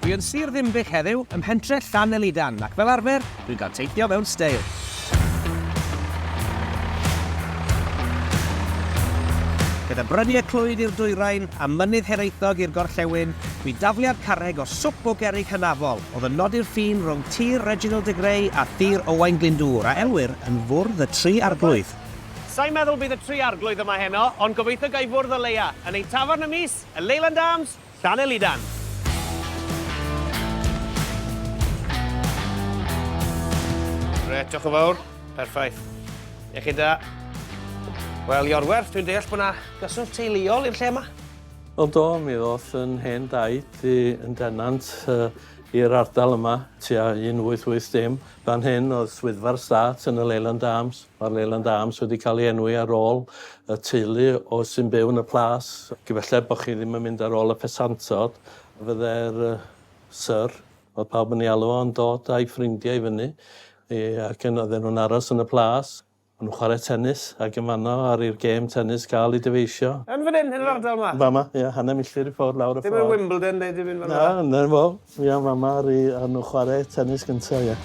Dwi yn Sir Ddinbych heddiw, ym mhentre Llanelidan, ac fel arfer, dwi'n cael teithio mewn steil. Gyda bryniau Clwyd i'r dwyrain a Mynydd Hiraethog i'r gorllewin, bu dafliad carreg o swp o gerrig hynafol oedd yn nodi'r ffin rhwng Tir Reginald de Grey a Thir Owain Glyndŵr, a elwir yn Fwrdd y Tri Arglwydd. Sai'n meddwl bydd y tri Arglwydd yma heno, ond gobeithio ga i fwrdd o leia, yn ein tafarn ym mis, y Leyland Arms, Llanelidan. Grêt, diolch yn fawr. Perffaith. Iechyd da. Wel, Iorwerth, dwi'n deall bod yna gyswllt teuluol i'r lle yma? Wel do, mi ddoth yn hen daid i yn denant uh, i'r ardal yma, tua 1880. Fan hyn oedd swyddfa'r stat yn y Leyland Arms. Mae'r Leyland Arms wedi cael ei enwi ar ôl y teulu o sy'n byw yn y plas. Gyfelled bod chi ddim yn mynd ar ôl y pesantod, fydde'r Sir, fel pawb yn ei alw o, yn dod a'i ffrindiau i fyny i ac yn oedden nhw'n aros yn y plas, o'n nhw'n chwarae tenis ac yn fanno ar i'r gêm tenis gael ei dyfeisio. Yn fan hyn, yn yr ardal 'ma? Fama, ie, hanner milltir i ffwrdd lawr y ffordd. Ddim yn Wimbledon neu dim un fel 'na? Na, 'na fo. Fi a Mama ry a nhw chware tenis gynta ia.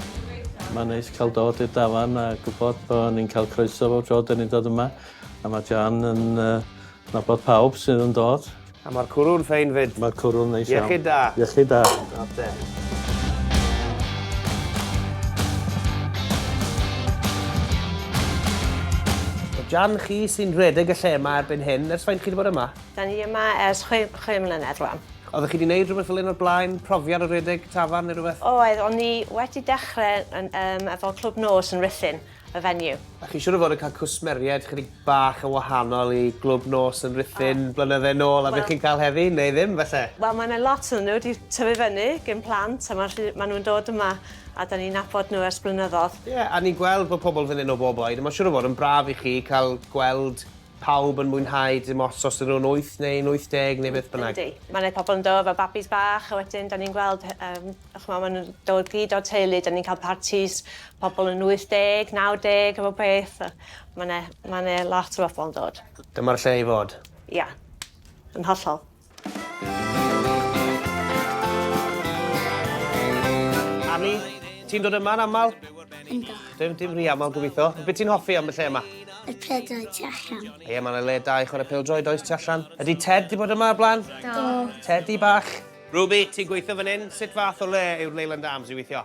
Mae'n neis cael dod i'r dafarn a gwybod bod ni'n cael croeso bob tro dyn ni'n dod yma a mae Jan yn nabod pawb sydd yn dod. A mae'r cwrw'n ffein fyd. Mae'r cwrw'n neis iawn. Iechyd da. Iechyd da. Oce. Jan chi sy'n rhedeg y lle yma erbyn hyn, ers faint chi wedi bod yma? Da ni yma ers chwe, chwe mlynedd rwan. Oeddech chi wedi gwneud rhywbeth fel hyn o'r blaen? Profiad o redeg tafarn neu rhywbeth? Oedd, o'n i wedi dechrau yn, um, efo Clwb Nos yn Rhuthun, y venue. A chi siŵr o fod yn cael cwsmeriaid chydig bach yn wahanol i Glwb Nos yn Rhuthun oh. blynydde nôl a well, beth chi'n cael heddi, neu ddim felly? Wel, mae yna lot o'n nhw wedi tyfu fyny gyn plant a mae ma nhw'n dod yma a da ni'n nabod nhw ers blynyddoedd. Ie, yeah, a ni'n gweld bod pobl fan hyn o bob oed a mae'n siŵr o fod yn braf i chi cael gweld pawb yn mwynhau dim ots os ydyn nhw'n wyth neu yn 80 neu beth bynnag. Yndi. Mae 'na pobl yn dod efo babis bach a wedyn 'dan ni'n gweld yy yym ch'mo' ma' nw'n dod gyd o'r teulu 'dan ni'n ca'l partis pobl yn 80, 90 a bob peth a ma' 'ne ma' 'ne lot o bobol yn dod. Dyma'r lle i fod. Ia. Yn hollol. Annie, ti'n dod yma'n aml? Ynddo. Dim, dim rhi aml gobeithio. Be ti'n hoffi am y lle yma? Y pedau tu allan. Ie, yeah, mae'n le da i chwarae pildroed oes tu allan. Ydy Ted di bod yma o blaen? Do. Teddy bach. Ruby, ti'n gweithio fan hyn? Sut fath o le yw'r Leyland Arms i weithio?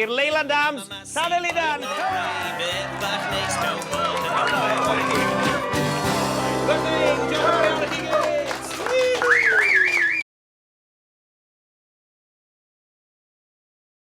I'r Leyland Arms, Llanelidan!